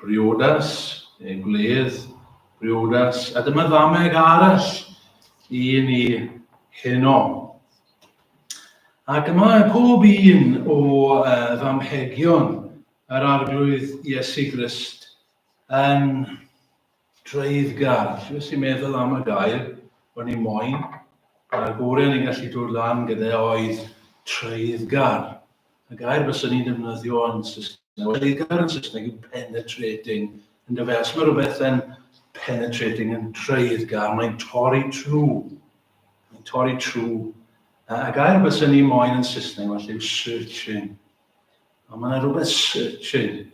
Briodas, neu gwledd, briodas, a dyma ddameg arall i ni heno. Ac mae pob un o uh, ddamhegion yr arglwydd Iesu Grist yn Treiddgar. Jyst i meddwl am y gair o'n i moyn, a'r gore ni'n gallu dod lan gyda e oedd treiddgar. Y gair bys ni'n defnyddio yn Saesneg, treiddgar yn Saesneg yw penetrating, yn dyfe? Os mae rhywbeth yn penetrating yn treiddgar, mae'n torri trw. Mae'n torri trw. A gair bys ni'n moyn yn Saesneg felly yw searching. A mae yna rywbeth syn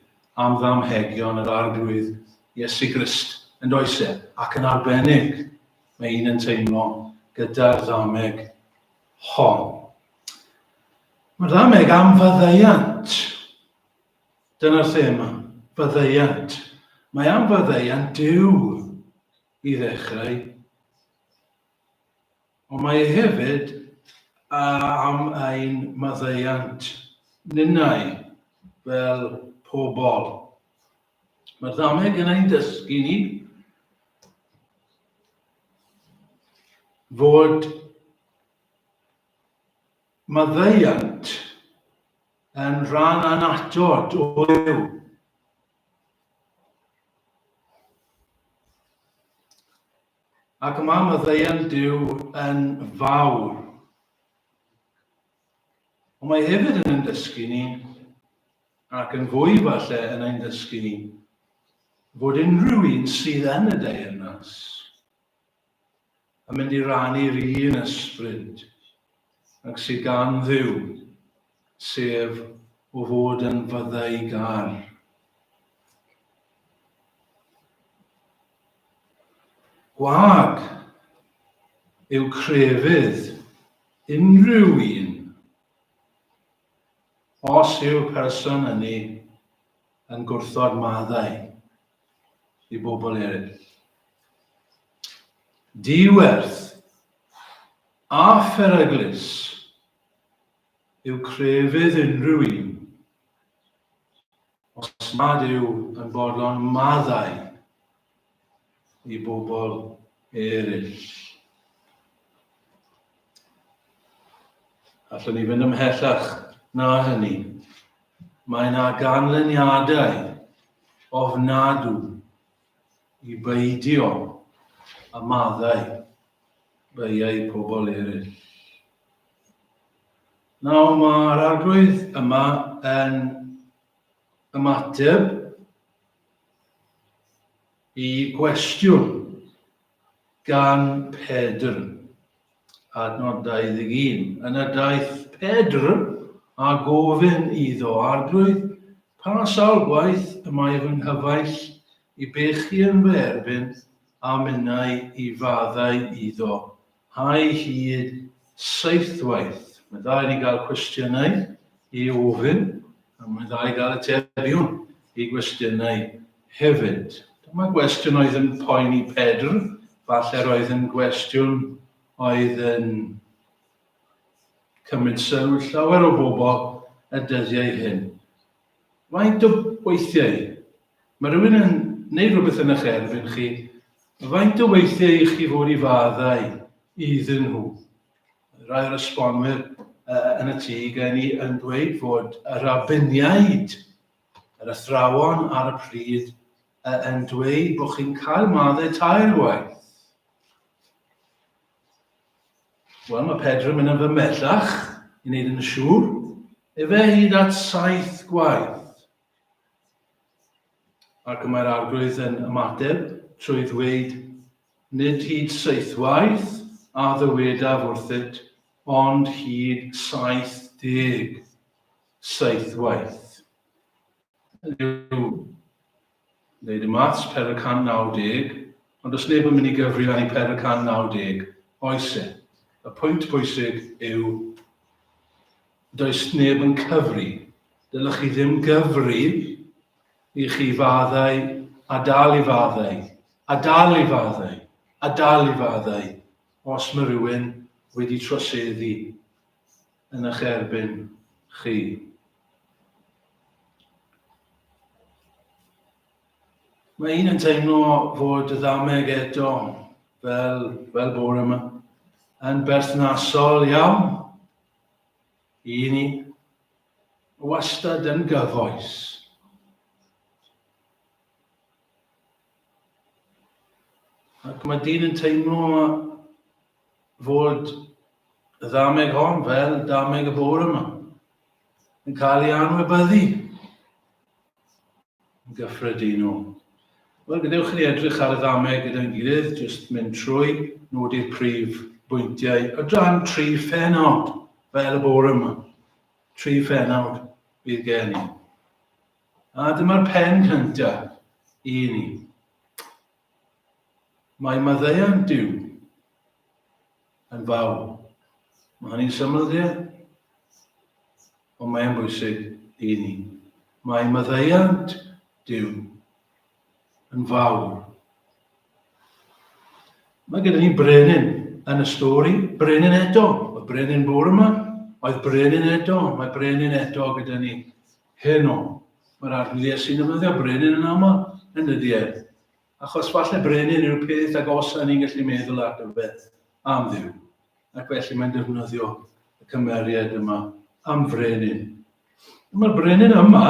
am ddamhegion yr Arglwydd Iesu Grist, yn does e? Ac yn arbennig, mae un yn teimlo gyda'r ddameg hon. Mae'r ddameg am faddeuant. Dyna'r thema, faddeuant. Mae am faddeuant Dyw i ddechrau. Ond mae e hefyd am ein maddeuant ninnau fel pobl. Mae'r ddameg yn ein dysgu ni fod maddeuant yn rhan anatod o fyw. Ac mae maddeuant Duw yn fawr. Ond mae hefyd yn ein dysgu ni, ac yn fwy falle yn ein dysgu ni, fod unrhyw un sydd yn y deyrnas yn mynd i rannu'r un ysbryd ac sydd gan ddiw sef o fod yn fyddayg ar. Gwag yw crefydd unrhyw un os yw'r person ynni yn gwrthod maddau i bobl eraill. Diwerth a pheryglus yw crefydd unrhyw un, os nad yw yn fodlon maddau i bobl eraill. Allwn ni fynd ymhellach na hynny. Mae yna ganlyniadau ofnadw i beidio a maddau beiau pobl eraill. Nawr mae'r arglwydd yma yn ymateb i gwestiwn gan Pedr, adnod 21. Yn y daeth Pedr a gofyn iddo, Arglwydd, pa sawl gwaith y mae fy nghyfaill i bechu yn fy erbyn a minnau i faddau iddo? A'i hyd seithwaith. Mae'n dda i ni gael cwestiynau i ofyn, a mae'n dda i gael atebion i gwestiynau hefyd. Dyma gwestiwn oedd yn poeni Pedr, falle'r oedd yn gwestiwn oedd yn cymryd sylw llawer o bobl y dyddiau hyn. Faint o weithiau? Mae rhywun yn neu rhywbeth yn eich erfyn chi, faint o weithiau i chi fod i faddau iddyn nhw? Rai o'r esbonwyr yn y tŷ gen i yn dweud fod y rabiniaid, yr athrawon ar y pryd, yn dweud bod chi'n cael maddau tair gwaith. Wel, mae Pedr yn mynd yn fymellach i wneud yn siŵr. Efe hyd at saith gwaith. Ac y mae'r arglwydd yn ymateb trwy ddweud, nid hyd saith waith a ddywedaf wrthyt, ond hyd saith deg saith waith. Yw Wneud y maths, per y 190, ond does neb yn mynd i gyfri â ni per y 190, oes e? Y pwynt bwysig yw does neb yn cyfri. Dylech chi ddim gyfri i chi faddau a dal i faddau, a dal i faddau, a dal i faddau, os mae rhywun wedi troseddu. yn eich erbyn chi. Mae un yn teimlo fod y ddameg eto fel, fel bore yma yn berthnasol iawn i ni wastad yn gyfoes. Ac mae dyn yn teimlo fod y ddameg hon, fel dameg y bore yma, yn cael ei anwybyddu yn gyffredinol. Wel, gadewch ni edrych ar y ddameg gyda'n gilydd, jyst mynd trwy nodi'r prif bwyntiau o dan tri phenawd fel y bore yma. Tri phenawd bydd gen i. A dyma'r pen cyntaf i ni. Mae maddeuant Duw yn fawr. Mae hynny'n syml, ie? Ond mae'n bwysig i ni. Mae maddeuant Duw yn fawr. Mae gyda ni brenin yn y stori, brenin eto. Mae brenin fawr yma, oedd brenin eto, mae brenin eto gyda ni. Heno, mae'r arglwydd sy'n defnyddio brenin yn aml yn y duedd, achos falle brenin yw'r peth agosaf ni'n gallu meddwl ar gyfer am Dduw, ac felly mae'n defnyddio y cymeriad yma am frenin. Mae'r brenin yma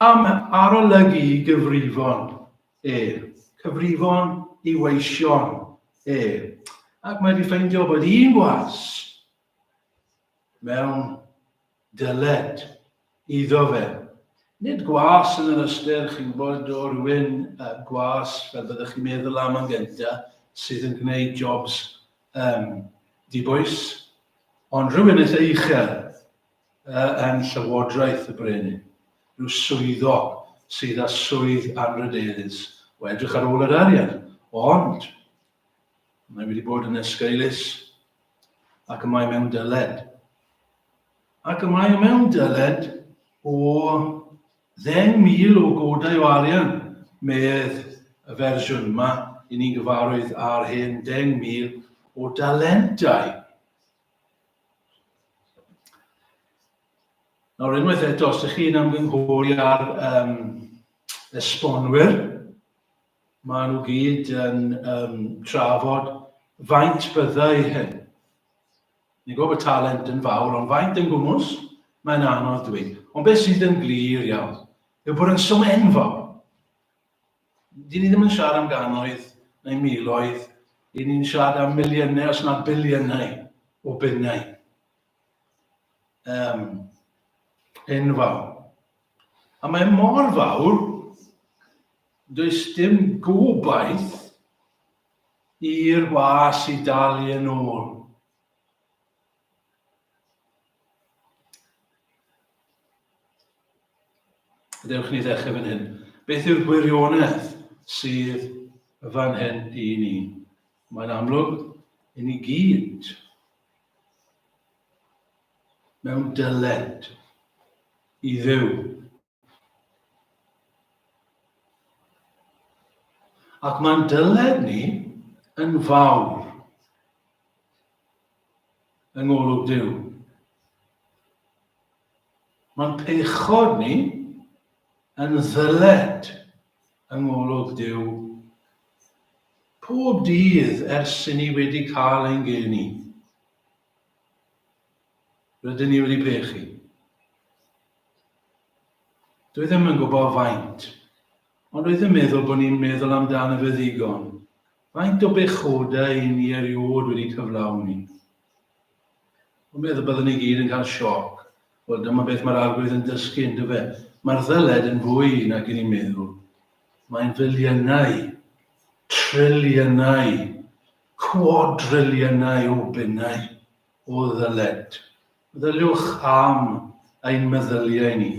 am arolygu i gyfrifon e, cyfrifon i weision e, ac mae wedi ffeindio bod un gwas mewn dyled iddo fe. Nid gwas yn yr ystyr, chi'n gwybod, o rywun uh, gwas, fel byddwch chi'n meddwl am yn gyntaf, sydd yn gwneud jobs um, dibwys, ond rhywun eitha uchel uh, yn llywodraeth y brenin, rhyw swyddog sydd â swydd anrhydeddus o edrych ar ôl yr arian, ond Mae wedi bod yn esgeulus ac y mae mewn dyled. Ac y mae mewn dyled o ddeng mil o godau o arian, medd y fersiwn yma, i ni'n gyfarwydd ar hyn, deng mil o dalentau. Nawr unwaith eto, os ydych chi'n ymgynghori ar um, esbonwyr, Maen nhw gyd yn um, trafod faint byddai hyn. Ni'n gwybod bod talent yn fawr, ond faint yn gwmwys, mae'n anodd dwi. Ond beth sydd yn glir iawn, yw bod yn swm enfawr. Dyn ni ddim yn siarad am ganoedd neu miloedd, dyn ni'n siarad am miliynau os na biliynau o bunnau. Um, enfawr. A mae mor fawr Does dim gobaith i'r was i dalu yn ôl. Dewch ni ddechrau fan hyn. Beth yw'r gwirionedd sydd fan hyn i ni? Mae'n amlwg i ni gyd mewn dyled i ddew. Ac mae'n dyled ni yn fawr yng ngolwg Duw. Mae'n pechod ni yn ddyled yng ngolwg Duw pob dydd ers i ni wedi cael ein geni. Rydyn ni wedi brechu. Dwi ddim yn gwybod faint, ond rydyn meddwl bod ni'n meddwl amdano fe ddigon. Faint o bechodau i ni eriod wedi cyflawni. Dwi'n meddwl byddwn ni gyd yn cael sioc. Wel, dyma beth mae'r arglwydd yn dysgu, yn dyfe. Mae'r ddyled yn fwy nag i ni meddwl. Mae'n filiynau, triliynau Cwadriliynau o bunnau o ddyled. Meddyliwch am ein meddyliau ni.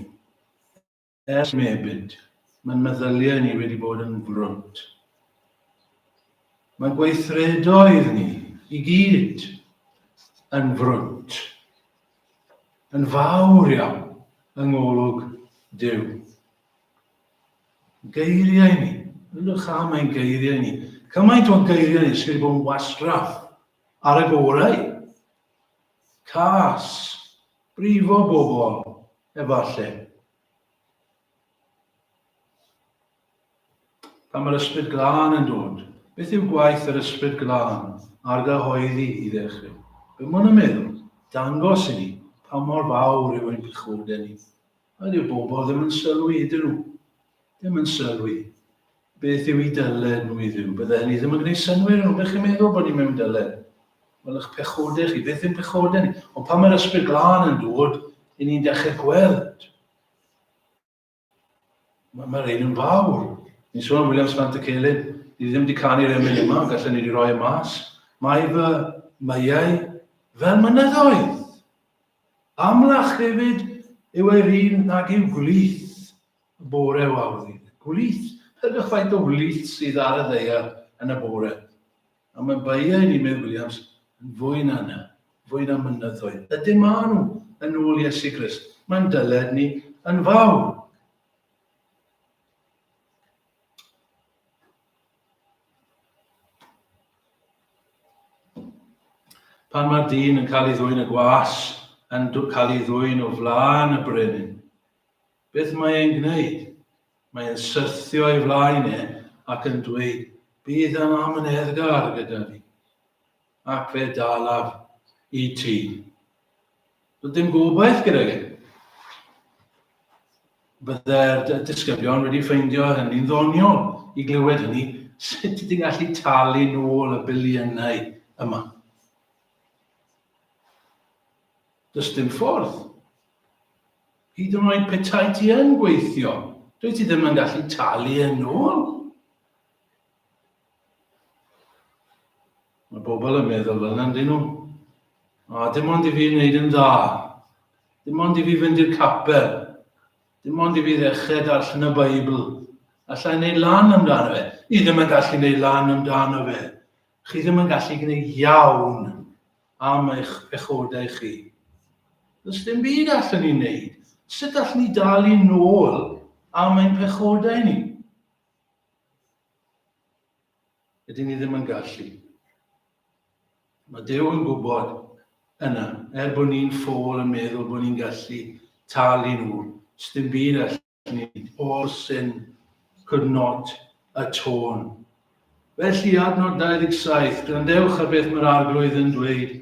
Ers mebyd, mae'n meddyliau ni wedi bod yn frwnt. Mae'n gweithredoedd ni i gyd yn frwnt, yn fawr iawn yng ngolwg Duw. Geiriau ni. Ydych am ein geiriau ni? Cymaint o geiriau ni sydd wedi bod yn wastraff ar y gorau. Cas, brifo bobl, efallai. Pan mae'r ysbryd glân yn dod, beth yw gwaith yr ysbryd glân ar gyhoeddi i ddechrau? Be mae'n y meddwl? Dangos i ni pa mor fawr yw ein pechodau ni. A dyw bobl ddim yn sylwi, ydyn nhw? Ddim yn sylwi. Beth yw i dyled nhw i dduw? Bydde hynny ddim yn gwneud synwyr nhw. Ydych chi'n meddwl bod ni mewn dyled? Wel, eich pechodau chi, beth yw'n pechodau ni? Ond pan mae'r ysbryd glân yn dod, i ni'n dechrau gweld. Mae'r ma ein yn fawr. Ni'n sôn am William Sant y Celyn. Ni ddim wedi canu'r emyn yma, ond gallwn ni wedi rhoi y e mas. Mae fy myau fel mynyddoedd. Amlach hefyd yw ei run nag yw gwlith y bore o awddi. Gwlith, peidiwch faint o wlith sydd ar y ddaear yn y bore. Ond mae beiau ni, medd Williams, yn fwy na hynna, fwy na mynyddoedd. Ydyn maen nhw, yn ôl Iesu Grist. Mae'n dyled ni yn fawr. Pan mae'r dyn yn cael ei ddwyn y gwas yn cael ei ddwyn o flaen y brenin. Beth mae e'n gwneud? Mae e'n syrthio ei flaen e ac yn dweud, bydd yn amyneddgar gyda ni. Ac fe dalaf i ti. Doedd dim gobaith gyda gen. Byddai'r disgyblion wedi ffeindio hynny'n ddoniol i glywed hynny, sut ydy'n gallu talu nôl y biliynau yma. Does dim ffordd. Hyd yn oed petai ti yn gweithio, dwi ti ddim yn gallu talu yn ôl. Mae bobl yn meddwl fel yna, dyn nhw. O, dim ond i fi wneud yn dda. Dim ond i fi fynd i'r capel. Dim ond i fi ddechrau darllen y Beibl. Alla i wneud lan amdano fe. I ddim yn gallu wneud lan amdano fe. Chi ddim yn gallu gwneud iawn am eich pechodau chi. Does dim byd allan ni wneud. Sut allan ni dal i nôl am ein pechodau ni? Ydyn ni ddim yn gallu. Mae Dyw yn gwybod yna, er bod ni'n ffôl yn meddwl bod ni'n gallu talu nhw, dim byd allan ni, all sin could not atone. Felly adnod 27, grandewch ar beth mae'r arglwydd yn dweud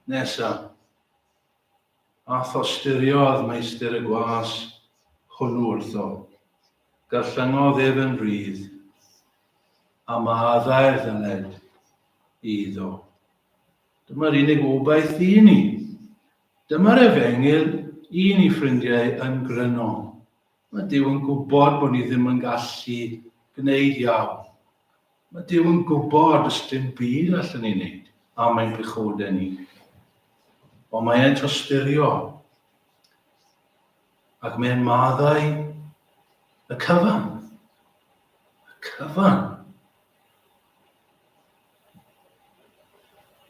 nesaf. A thostyriodd meistr y gwas hwnnw wrtho, garllyngodd ef yn rhydd, a maddau'r ddannedd iddo. Dyma'r unig obaith i ni. Dyma'r efengyl i ni ffrindiau yn gryno. Mae Duw yn gwybod bod ni ddim yn gallu gwneud iawn. Mae Duw yn gwybod os dim byd allan ni wneud am ein pechodau ni. Ond mae e'n tostyrio ac mae'n maddau y cyfan. Y cyfan.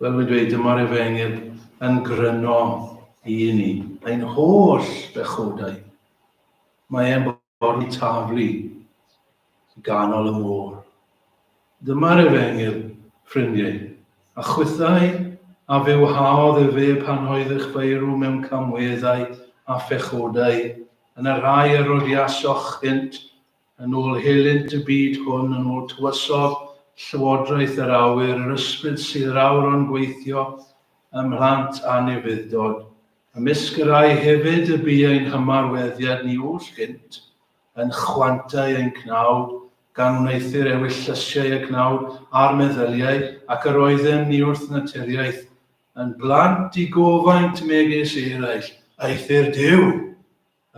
Fel fi'n dweud, dyma'r efengyl yn gryno i ni, ein holl bechodau. Mae e'n bori taflu i ganol y môr. Dyma'r Efengyl, ffrindiau, a chwithau a fe wahaodd efe pan oedd eich beirw mewn camweddau a phechodau, yn y rhai a rodiasoch hynt, yn ôl helynt y byd hwn, yn ôl tywysog llywodraeth yr awyr, yr ysbryd sydd yr awr o'n gweithio ym mhlant anufudd-dod. Ymysg y rhai hefyd y bu ein hymarweddiad ni oll gynt, yn chwantau ein cnawd, gan wneuthur ewylllysiau y cnawd a'r meddyliau, ac yr oeddem ni wrth naturiaeth yn blant i gofaint megis eraill, aethu'r Duw!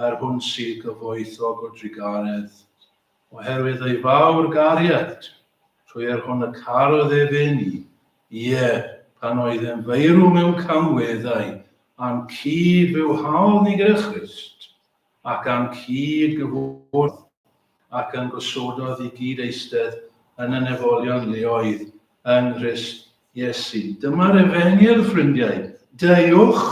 er hwn sy'n gyfoethog o drugaredd, oherwydd ei fawr gariad, trwy er hwn y carodd ef un i, ie, pan oedd e'n feirw mewn camweddau, a'n cyd-fyw hawl ni gyda Christ, ac a'n cyd-gyfwrdd ac yn gosododd i gyd eistedd yn y nefolion leoedd yng Nghrist Iesu. Dyma'r Efengyl, ffrindiau. Deuwch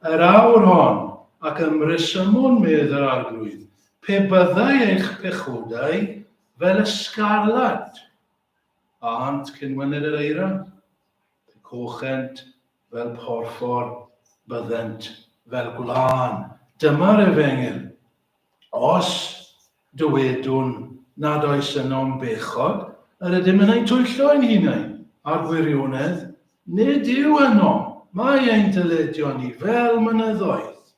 yr awr hon, ac ymresymwn, medd yr Arglwydd, pe byddai eich pechodau fel y sgarlat, a hant cyn wyned yr eira, pe cochent fel porffor, byddent fel gwlân. Dyma'r Efengyl. Os dywedwn nad oes ynom bechod, yr ydym yn ein twyllo ein hunain, a'r gwirionedd, nid yw ynom, mae ein dyledion ni fel mynyddoedd.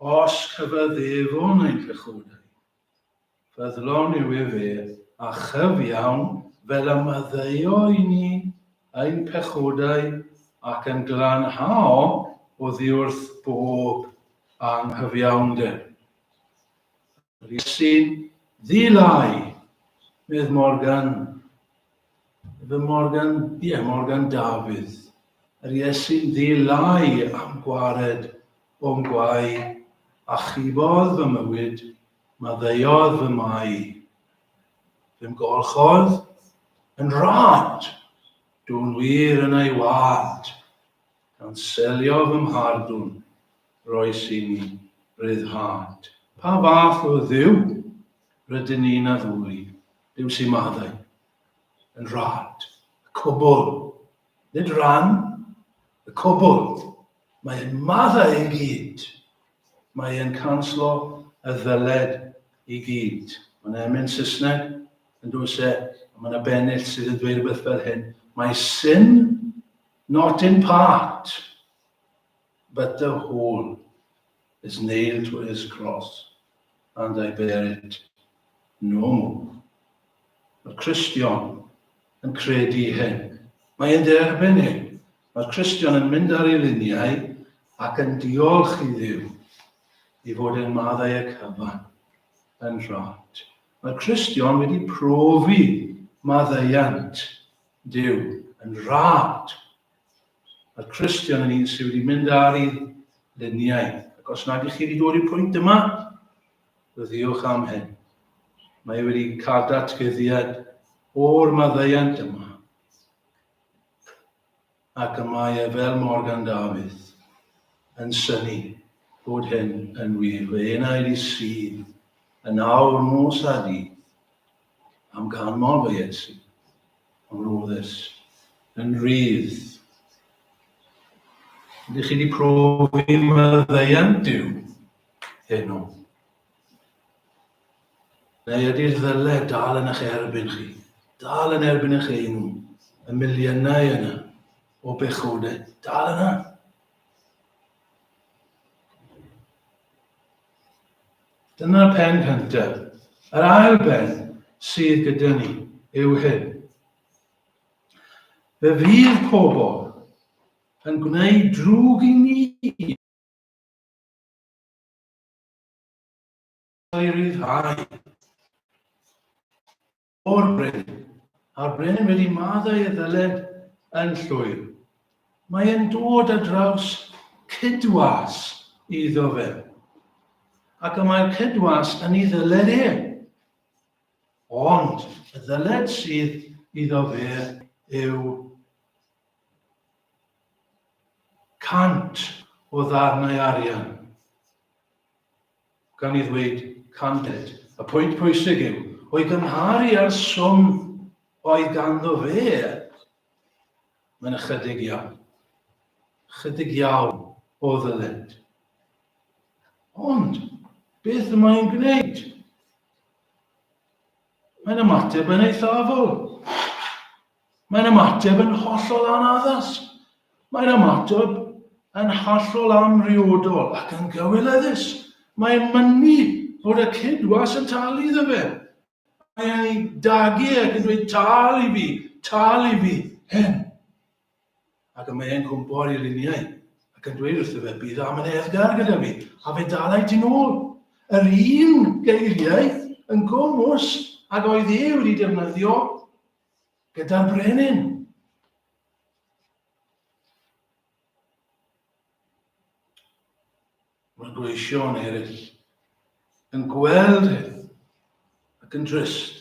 Os cyfaddefwn ein pechodau, Ffyddlon yw ef a chyfiawn fel y maddeuo i ni ein pechodau ac yn glanhao oddiwrth bob anghyfiawnder. Yr Iesu'n ddi-lai, medd Morgan. Efe Morgan, ie, Morgan Dafydd. Yr Iesu'n ddi-lai am gwared o'm gwae, achubodd fy mywyd Maddeuodd fy mai. Fy mgolchodd yn rad. Dwn wir yn ei wad. Gan selio fy mhardwn. Roes i mi ryddhad. Pa fath o Dduw rydyn ni'n addoli? Duw sy'n maddau. Yn rad. Y cwbl. Nid rhan. Y cwbl. Mae e'n maddau i gyd. Mae e'n canslo y ddyled i gyd. Mae'n emyn Saesneg, yn does e? A mae yna bennill sydd yn dweud rhywbeth fel hyn, Mae sin not in part, but the whole is nailed to his cross, and I bear it no more. Mae'r Cristion yn credu hyn. Mae'n derbyn hyn. Mae'r Cristion yn mynd ar ei liniau ac yn diolch i Dduw i fod yn maddau y cyfan. Yn rhot, mae'r Cristion wedi profi maddeuant Duw yn rhad. Mae'r Cristion yn un sydd wedi mynd ar ei luniau, ac os nad ych chi wedi dod i'r pwynt yma, ryddiwch am hyn. Mae wedi cael datgyddiad o'r maddeuant yma. ac y mae e fel Morgan Dafydd, yn synnu bod hyn yn wir, fy enaid i sydd yn awr nos a dydd am ganmol fy Iesu, am roddes yn rydd. Ydych chi wedi profi maddeuant Duw heno? Neu ydy'r ddyle dal yn eich erbyn chi, dal yn erbyn eich enw, y miliynau yna o bechodau, dal yna. Dyna'r pen cyntaf. Yr ail ben sydd gyda ni yw hyn. Fe fydd pobl yn gwneud drwg i ni O'i ryddhau. O'r brenin. A'r brenin wedi maddau y ddyled yn llwyr. Mae yn dod a draws cydwas iddo fe. Ac y mae'r cydwas yn ei ddyled e. Ond y ddyled sydd iddo fe yw cant o ddarnau arian. Gan ei ddweud candid, y pwynt pwysig yw o'i gymharu â'r swm oedd ganddo fe, mae'n ychydig iawn. Ychydig iawn o ddyled. Ond, beth y mae'n gwneud? Mae'n ymateb yn eithafol. Mae'n ymateb yn hollol anaddas. Mae'n ymateb yn hollol amhriodol ac yn gywilyddus. Mae'n mynnu bod y cydwas yn talu iddo fe. Mae'n ei dagu ac yn dweud, tal i fi, tal i fi, hen. Ac y mae'n cwmpo ar ei luniau ac yn dweud wrtho fe, bydd am yn eddgar gyda fi, a fe dalai ti'n ôl. Yr un geiriau yn gwmwys ag oedd e wedi defnyddio gyda'r brenin. Mae gweision eraill yn gweld hyn ac yn drist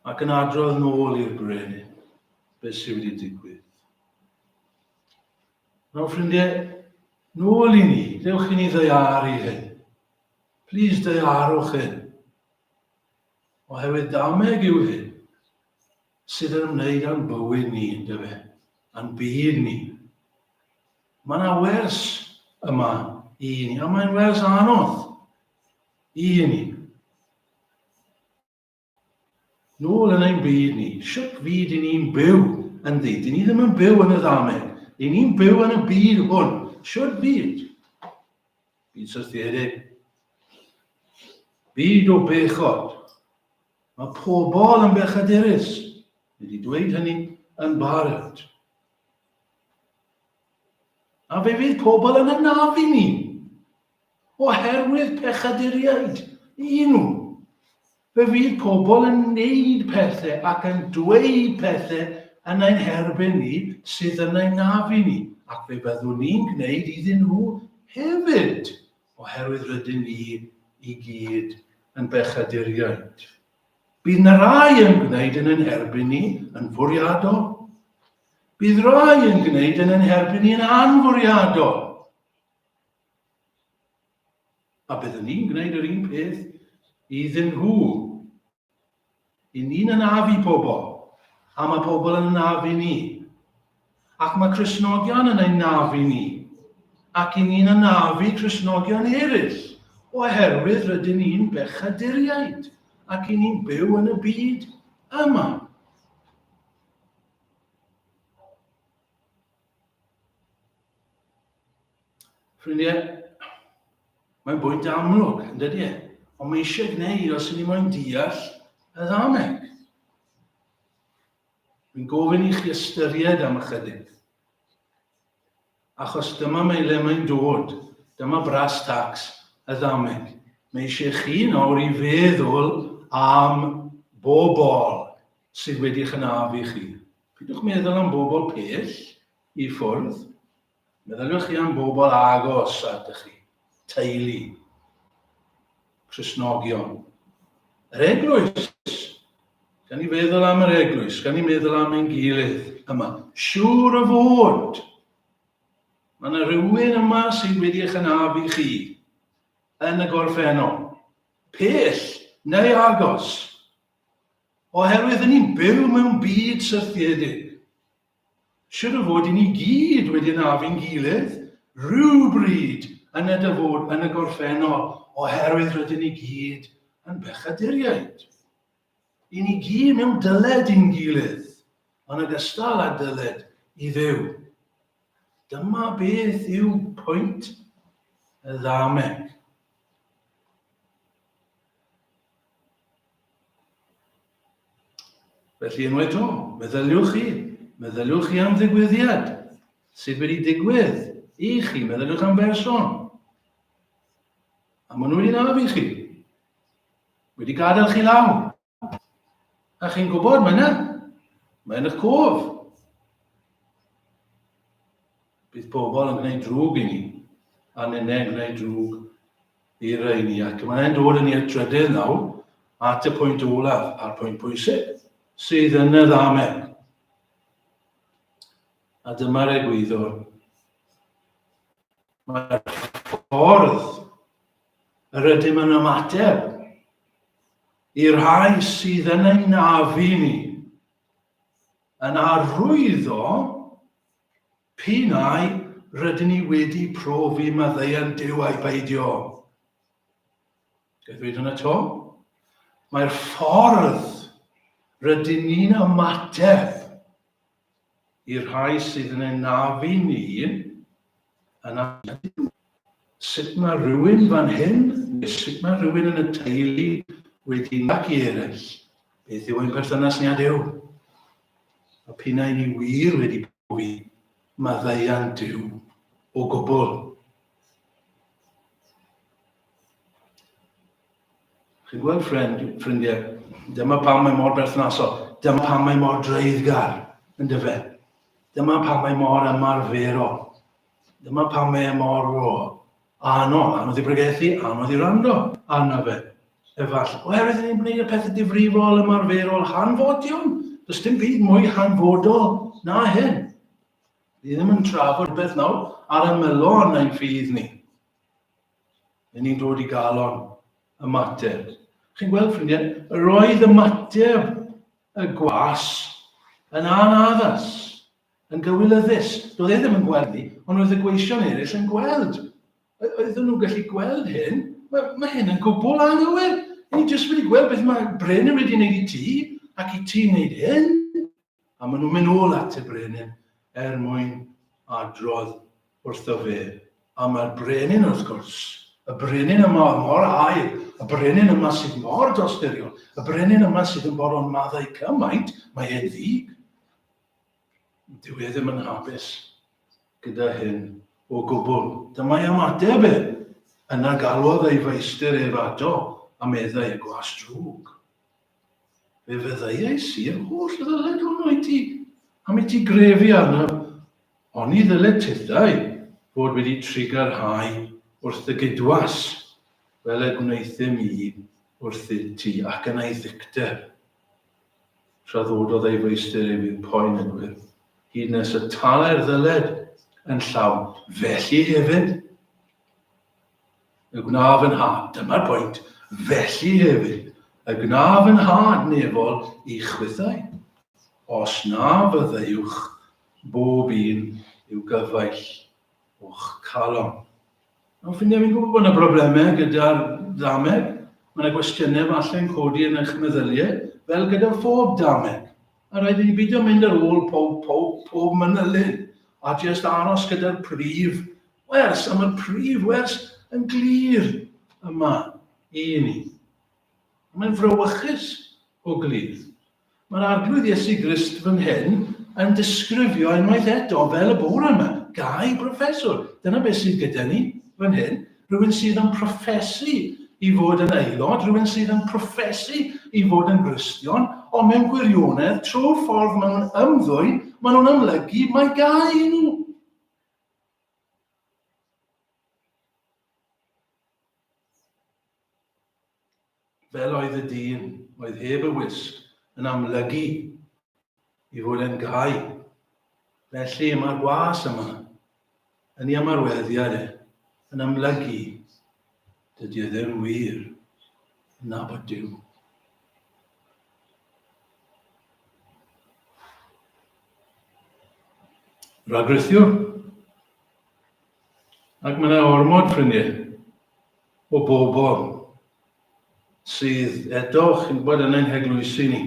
ac yn adrodd yn ôl i'r brenin beth sydd wedi digwydd. Nawr ffrindiau, nôl i ni, dewch i ni ddeiaru hyn. Please deiarwch hyn. Oherwydd dameg yw hyn sydd yn ymwneud â'n bywyd ni, yndyfe, a'n byd ni. Mae yna wers yma i ni, a mae'n wers anodd i ni. Nôl yn ein byd ni, sut fyd i ni'n byw ynddi? Dyn ni ddim yn byw yn y ddameg. Dyn ni'n byw yn y byd hwn. Sut fyd? Bydd syrthio hefyd. Byd o bechod. Mae pobl yn bechaderus. Mae wedi dweud hynny yn barod. A fe fydd pobl yn anafu ni oherwydd pechaduriaid i nhw. Fe fydd pobl yn neud pethe ac yn dweud pethe yn ein herbyn ni sydd yn ein nafu ni, ac fe byddwn ni'n gneud iddyn nhw hefyd, oherwydd rydyn ni i gyd yn bechaduriaid. Bydd na rai yn gwneud yn ein herbyn ni yn fwriadol. Bydd rai yn gwneud yn ein herbyn ni yn anfwriadol. A byddwn ni'n gwneud yr un peth iddyn nhw. I ni'n anafu pobl, a mae pobl yn anafu ni. Ac mae Cresnogion yn ein nafu ni. Ac i ni'n anafu Cresnogion eraill, oherwydd rydyn ni'n bechaduriaid, ac i ni'n byw yn y byd yma. Ffrindiau, mae'n bwynt amlwg, yn dydy e? Ond mae eisiau gwneud os ni moyn deall y ddameg. Dwi'n gofyn i chi ystyried am ychydig. Achos dyma mae le mae'n dod, dyma bras tax y ddameg. Mae eisiau chi nawr i feddwl am bobl sydd wedi chynaf i chi. Peidiwch meddwl am bobl pell i ffwrdd, meddyliwch chi am bobl agos atych chi, teulu, Crisnogion, yr eglwys. Gan ni feddwl am yr eglwys, gan ni meddwl am ein gilydd yma. Siŵr o fod, mae yna rhywun yma sydd wedi eich anafu chi yn y gorffennol, pell neu agos. Oherwydd ry'n ni'n byw mewn byd syrthiedig. Siŵr o fod i ni gyd wedi anafu'n gilydd rhywbryd yn y dyfod yn y gorffennol oherwydd rydyn ni gyd yn bechaduriaid. I ni gyd mewn dyled i'n gilydd, yn ogystal â dyled i Dduw. Dyma beth yw pwynt y ddameg. Felly unwaith to, meddyliwch chi, meddyliwch chi am ddigwyddiad sydd wedi digwydd i chi, meddyliwch am berson. A maen nhw wedi naf i chi, wedi gadael chi law. A chi'n gwybod, mae yna, mae yna cof. Bydd pobl yn gwneud drwg i ni, a nynau yn gwneud drwg i reini ac mae e'n dod yn i'r trydydd nawr at y pwynt olaf a'r pwynt pwysig sydd yn y ddamen. A dyma'r egwyddor. Mae'r ffordd yr ydym yn ymateb i'r rhai sydd yn ein nafu ni yn arwyddo P'un ai rydyn ni wedi profi maddeuant Duw ai beidio, ga'i ddweud hwnna 'to? Mae'r ffordd rydyn ni'n ymateb i'r rhai sydd yn enafu ni yn anhygoel. Sut mae rhywun fan hyn, neu sut mae rhywun yn y teulu wedi nag i eraill? Beth yw ein perthynas ni â Duw? A p'un ai ni wir wedi mwy maddeuant Duw o gwbl. Chi'n gweld ffrind, ffrindiau, dyma pam mae mor berthnasol, dyma pam mae mor dreiddgar, yn dyfe. Dyma pam mae mor ymarferol. Dyma pam mae e mor ro. Anodd, anodd i bregethu, anodd i rando arno fe. Efallai, oherwydd ni'n gwneud y pethau difrifol, ymarferol, hanfodion. Does dim byd mwy hanfodol na hyn. Ni ddim yn trafod beth nawr ar ymylon ein ffydd ni. Rydyn ni'n dod i galon y mater. Chi'n gweld, ffrindiau, yr oedd y mater y gwas yn anaddas. Yn gywilyddus, doedd e ddim yn gweld hi, ond roedd y gweision eraill yn gweld. O- oeddwn nhw'n gallu gweld hyn? Mae, mae hyn yn gwbl anghywir. Y'n ni jyst wedi gweld beth mae Brenin wedi gwneud i ti, ac i ti wneud hyn? A maen nhw'n mynd ôl at y Brenin er mwyn adrodd wrtho fe. A mae'r Brenin, wrth gwrs, y Brenin yma mor air, y Brenin yma sydd mor dosturiol, y Brenin yma sydd yn boron maddau cymaint, mae e'n ddig. Dyw e ddim yn hapus gyda hyn o gwbl. Dyma'i ymateb e. Yna galwodd ei feistr ef ato a meddai, Gwas drwg. Fe feddaiais i yr holl ddyled hwnnw i ti, am i ti grefu arnaf, ond ni ddyled tithau fod wedi trigarhau wrth dy gydwas, fel y gwnaethum i wrthyt ti, ac yna'i ddicter. Rhyddhaododd ei feistr ef i'w poen yn wyrdd, hyd nes y talai'r ddyled yn llawn. Felly hefyd y gwna fy nhad, dyma'r pwynt, felly hefyd y gwna fy nhad nefol i chwithau, os na fyddeuwch bob un i'w gyfaill o'ch calon. Nawr, fi'n ddim yn gwybod bod yna broblemau gyda'r ddameg. Mae yna gwestiynau falle'n codi yn eich meddyliau, fel gyda phob dameg. A rhaid i ni beidio mynd ar ôl pob, pob, pob manylyn, a jyst aros gyda'r prif wers, a mae'r prif wers yn glir yma i ni. Mae'n frawychus o glir. Mae'r Arglwydd Iesu Grist fan hyn yn disgrifio unwaith eto fel y bore yma, Gai broffeswr? Dyna beth sydd gyda ni fan hyn. Rhywun sydd yn proffesu i fod yn aelod, rhywun sydd yn proffesu i fod yn Gristion, ond mewn gwirionedd, trwy'r ffordd maen nhw'n ymddwyn, maen nhw'n amlygu mae gau i nhw. Fel oedd y dyn oedd heb y wisg yn amlygu i fod yn gau. Felly mae'r gwas yma yn ei ymarweddiad e, yn amlygu dydy e ddim wir yn nabod Duw. Ragrithiwr. Ac mae yna ormod, ffrindiau, o bobl sydd eto, chi'n gwybod, yn ein heglwysi ni,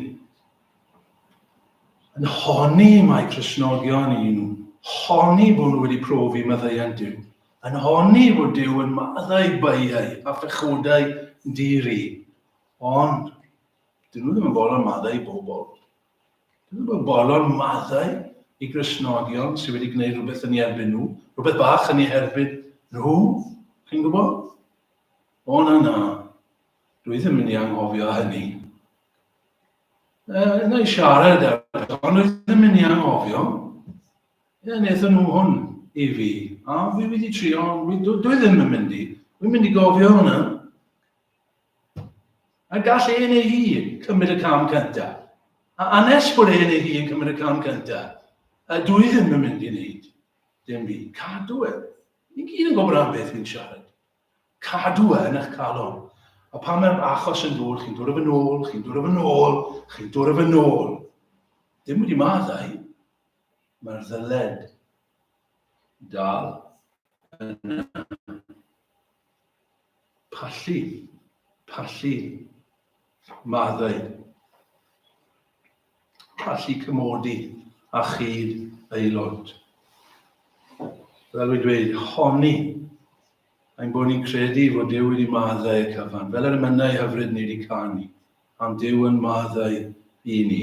yn honni mai Cresnogion i nhw, honni bod nhw wedi profi maddeuant Dyw, yn honni bod Dyw yn maddau baiau a phechodau di-ri, ond dyn nhw ddim yn bod yn maddau bobl. Dwi'n gweld bolon maddau i Gristnogion sydd wedi gwneud rhywbeth yn ei erbyn nhw, rhywbeth bach yn ei herbyn nhw, chi'n gwybod? O na na, dwi ddim yn ei anghofio hynny. Uh, na i siarad ar beth, ond dwi ddim yn ei anghofio. Ie, wnaethon nhw hwn i fi, a fi wedi trio, dwi, dwi ddim yn mynd i, dwi'n mynd i gofio hwnna. A gall un ei hun cymryd y cam cynta. A anes bod un ei hun cymryd y cam cynta. A dw i ddim yn mynd i wneud dim byd. Cadw e. Ni'n gyd yn gwybod am beth ni'n siarad. Cadw e yn eich calon. A pan mae'r achos yn dod, chi'n dod o fy nôl, chi'n dod o fy nôl, chi'n dod o fy nôl. Dim wedi maddau. Mae'r ddyled dal yna. Pallu, pallu, maddau. Pallu cymodi a chyd aelod. Fel wedi dweud, honi ein bod ni'n credu fod Dyw wedi maddau y cyfan, fel yr ymynau hyfryd ni wedi canu, am Dyw yn maddau i ni.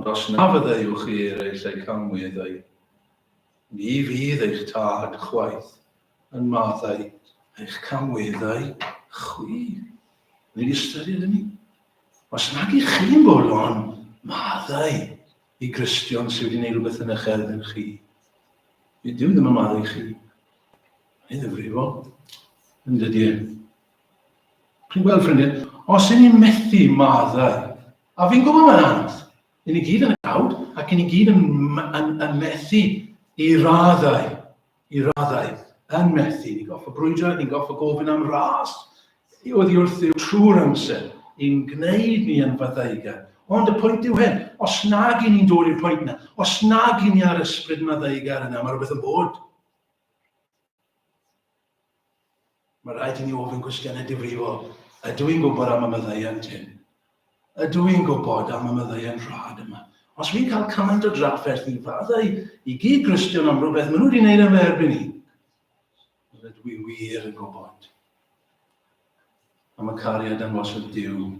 Ond os na fyddeuwch chi eraill eu canmwydd eu, ni fydd eich Tad chwaith yn maddau eich canmwydd eu chwi. Ni'n ystyried hynny. Os nad ych chi'n bolon maddau i Gristion sydd wedi gwneud rhywbeth yn eich erbyn chi, bydd Duw ddim yn maddau chi. Mae'n ddifrifol, yn dydy e? Chi'n gweld ffrindiau, os yn ni'n methu maddau, a fi'n gwybod mae'n anodd, yn ni gyd yn y cawd ac yn ni gyd yn, yn, yn methu i raddau, i raddau, yn methu. Ni'n goffa brwydro, ni'n goffa gofyn am ras, oedd i wrth yw trwy'r amser, i'n gwneud ni yn faddauga. Ond y pwynt yw hyn, os nag i ni'n dod i'r pwynt yna, os nag i ni ar ysbryd maddauga yna, mae rhywbeth yn bod. Mae rhaid i ni ofyn cwestiynau difrifol. Ydw i'n gwybod am y maddeuant hyn? Ydw i'n gwybod am y maddeuant rhad yma? Os fi'n cael cymaint o drafferth i faddau i gyd Gristion am rhywbeth maen nhw wedi gwneud am fy erbyn i, ydw i wir yn gwybod am y cariad angosod Dyw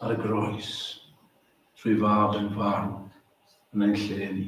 ar y groes trwy fab yn farw yn ein lle ni.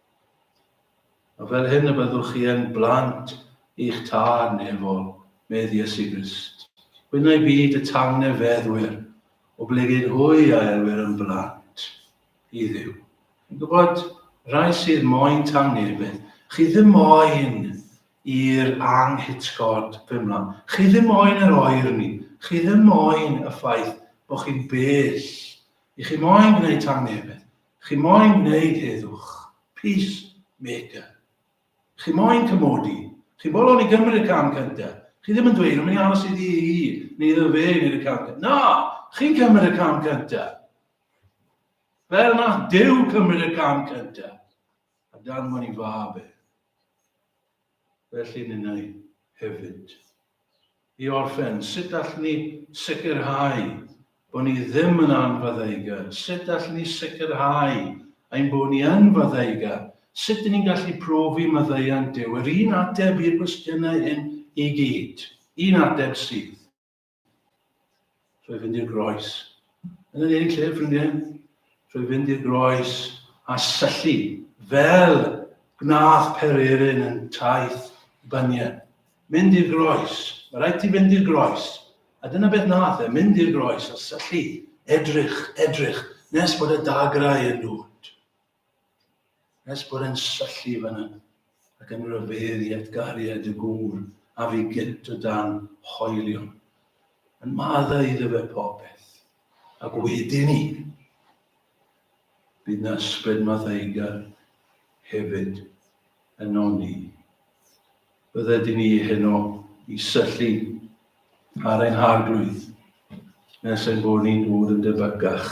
A fel hyn y byddwch chi yn blant i'ch Tad nefol, medd Iesu Grist. Gwynnau byd y tangnefeddwyr, oblegid hwy a elwir yn blant i Dduw. Yn gwybod, rhai sydd moyn tangnefedd, chi ddim moyn i'r anghitgod bymlan. Chi ddim moyn yr oer ni. Chi ddim moyn y ffaith bod chi'n bell. I chi moyn gwneud tangnefedd. Chi moyn gwneud heddwch. Peace maker. Chi moyn cymodi. Chi bolon i Gymru y cam cynta. Chi ddim yn dweud, o, mi'n aros iddi hi, neu iddo fe wneud y cam cynta. Na! Chi'n cymryd y cam cynta. Fel na Dyw cymryd y cam cynta. A dan fod i fab e. Felly ninnau hefyd. I orffen, sut allwn ni sicrhau bod ni ddim yn anfaddeugar? Sut allwn ni sicrhau ein bod ni yn faddeugar? Sut dyn ni'n gallu profi maddeuant Duw? Yr un ateb i'r gwestiynau hyn i gyd. Un ateb sydd. Trwy fynd i'r groes. Yn yr un lle, ffrindiau, trwy fynd i'r groes a syllu fel gwnaeth Pererin yn taith Bania. Mynd i'r groes. Mae rhaid ti fynd i'r groes. A dyna beth nath e, mynd i'r groes a syllu, edrych, edrych, nes bod y dagrau yn dod. Nes bod e'n syllu fanna, ac yn rhyfedd i atgariad y gŵr a fi gynt o dan hoelion, yn madda iddo fe popeth, ac wedyn ni. Bydd na ysbryd math eigar hefyd yn ol ni. Bydde di ni heno i syllu ar ein harglwydd, nes ein bod ni'n dod yn debycach